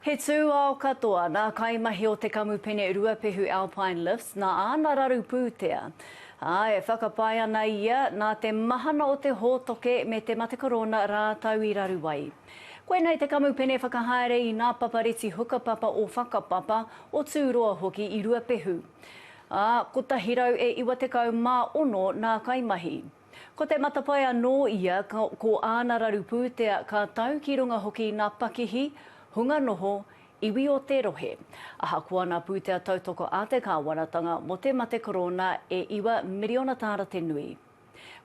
He tūao katoa nā kaimahi o te kamupene Ruapehu Alpine Lifts nā āna raru pūtea, ā, e whakapae ana ia nā te mahana o te hōtoke me te mate korona rātou i raru ai. Koinei te kamupene whakahaere i nā papareti hukapapa o Whakapapa, o Tūroa hoki i Ruapehu. Ā, 196 nā kaimahi. Ko te matapae anō ia, ko āna raru pūtea ka tau ki runga hoki i ngā pakihi, hunga noho, iwi o te rohe. Ahakoa ngā pūtea tautoko a te kāwanatanga mō te mate korōna e iwa miriona tāra te nui.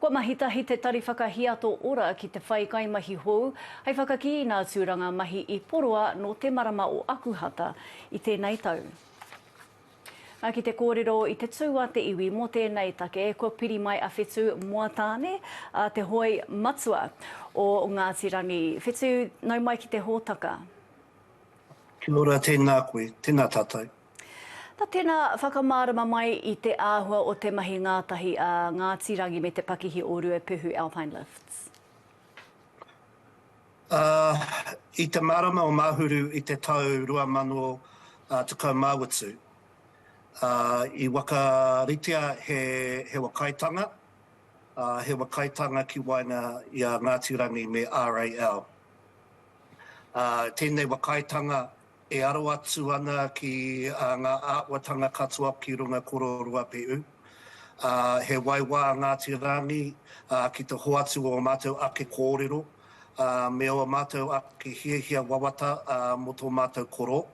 Kua mahi tahi te Tari Whakahiato Ora ki te whai kaimahi hou hei whakakī i ngā tūranga mahi i poroa nō te marama o Akuhata i tēnei tau. Na, ki te kōrero i te tū a te iwi mō tēnei take, kua piri mai a Whetu Moatāne, a te hoi matua o Ngāti Rangi. Whetu, nau mai ki te hōtaka. Kia ora, tēnā koe, tēnā tātou. Na, tēnā, whakamārama mai i te āhua o te mahi ngātahi a Ngāti Rangi me te pakihi o Ruapehu Alpine Lifts. ā, i te marama o Mahuru i te tau 2018, ā, i whakaritea he Hewa Kaitanga, ā, Hewa Kaitanga ki waenga i a Ngāti Rangi me RAL. Ā, tēnei Wa Kaitanga E aro atu ana ki ngā āhuatanga katoa ki runga kororoa Pe'u, ā, he waiwā a Ngāti Rangi ki te hoatu o ō mātou ake kōrero me ō mātou ake hiahia wawata mō tō mātou koro,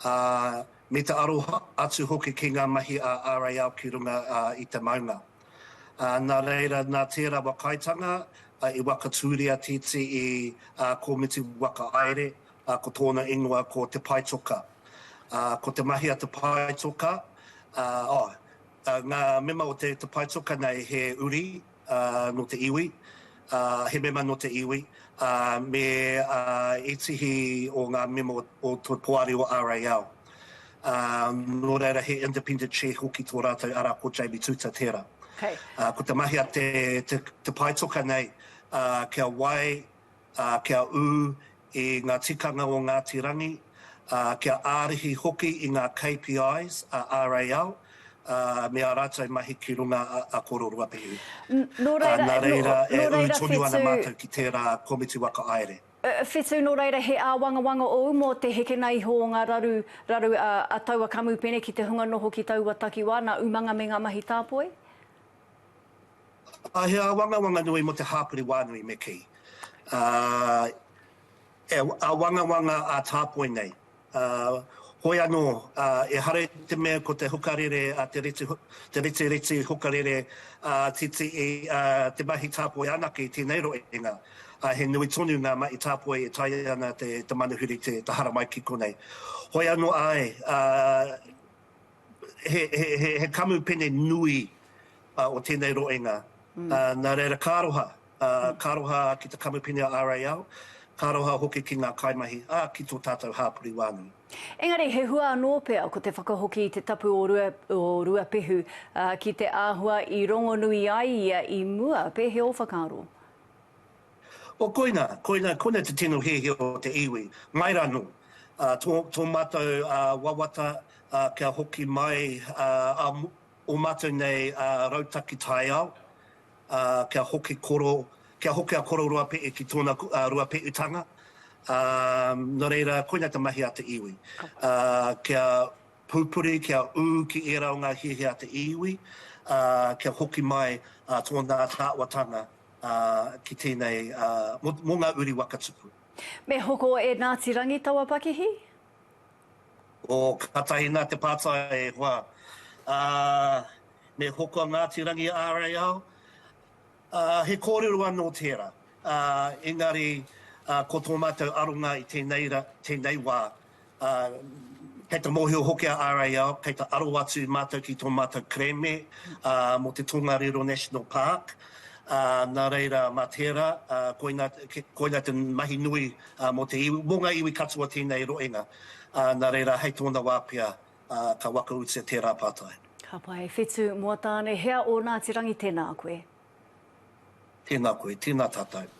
ā, me te aro atu hoki ki ngā mahi a RAL ki runga i te maunga. Ā, nā reira, nā tērā wakaitanga i whakatūria TTE Komiti Whakahaere ā, ko tōna ingoa ko Te Paetoka. Ā, ko te mahi a Te Paetoka, ā, oh, ā, ngā mema o Te Paetoka nei he uri, ā, nō te iwi, ā, he mema nō te iwi, ā, me ā, ētehi o ngā mema o te poari o RAL. Ā, nō reira he Independent Chair hoki tō rātou ara ko Jamie Tuta tērā. Hei. Ā, ko te mahi a Te, Te, Te Paetoka nei, ā, kia wai, ā, kia ū i ngā tikanga o Ngāti Rangi, ā, kia ārahi hoki i ngā KPIs a RAL, ā, me ā rātou mahi ki runga a Koro Ruapehu. Nō reira, nō reira whetū. Nā reira, e ū tonu ana mātou ki tērā Komiti Waka Aere. Whetū, nō reira he āwangawanga ōu mō te hekena iho o ngā raru, raru a taua kamupene ki te hunga noho ki taua takiwā, nā umanga me ngā mahi tāpoi? He āwangawanga nui mō te hāpori wānui me kī. He āwangawanga ā-tāpoi nei. Hoi anō, ehara i te mea ko te hukarere, te retireti hukarere titi i te mahi tāpoi anake i tēnei roenga, he nui tonu ngā mahi tāpoi e taea ana te manuhiri te haramai ki konei. Hoi anō, āe, He kamupene nui o tēnei roenga, nā reira ka aroha, ka aroha ki te kamupene a RAL, ka aroha hoki ki ngā kaimahi, ā, ki tō tātou hāpori wānui. Engari he hua anō pea ko te whakahoki i te tapu o Ruapehu ki te āhua i rongonui ai ia i mua, pēhea ō whakaaro? O koina, koina, koina te tino hiahia o te iwi, mai ra no, a, to, to matou, a, wawata, a, kia hoki mai, a, a, o matou nei, a, rautaki taiao, a, kia hoki koro, kia hoki a Kororoape'u ki tona, a, Ruape'utanga, a, no reira, koina te mahi a te iwi, a, kia pupuri, kia u ki era o nga hiahia a te iwi, a, kia hoki mai, a, tona taawatanga, ki tēnei, mō ngā uri waka tupu. Me hoko e Ngāti Rangi taua pakihi? Oh, kātahi nā te pātai e hoa. Me hoko a Ngāti Rangi ārai ao? He kōrero anō tērā. Engari, ko tō mātou aronga i tēnei wā, ā, kei te mōhio hoki a RAL, kei te aro atu mātou ki tō mātou kerēme, ā, mō te Tongariro National Park, ā, nā reira, mā tērā, ā, koina, koina te mahi nui, ā, mō te iwi, mō ngā iwi katoa tēnei roenga, ā, nā reira, hei tōna wā pea, ā, ka wakautia tērā pātai. Ka pai, e Whetu, Moataane, hea ō Ngāti Rangi, tēnā koe. Tēnā koe, tēnā tātou.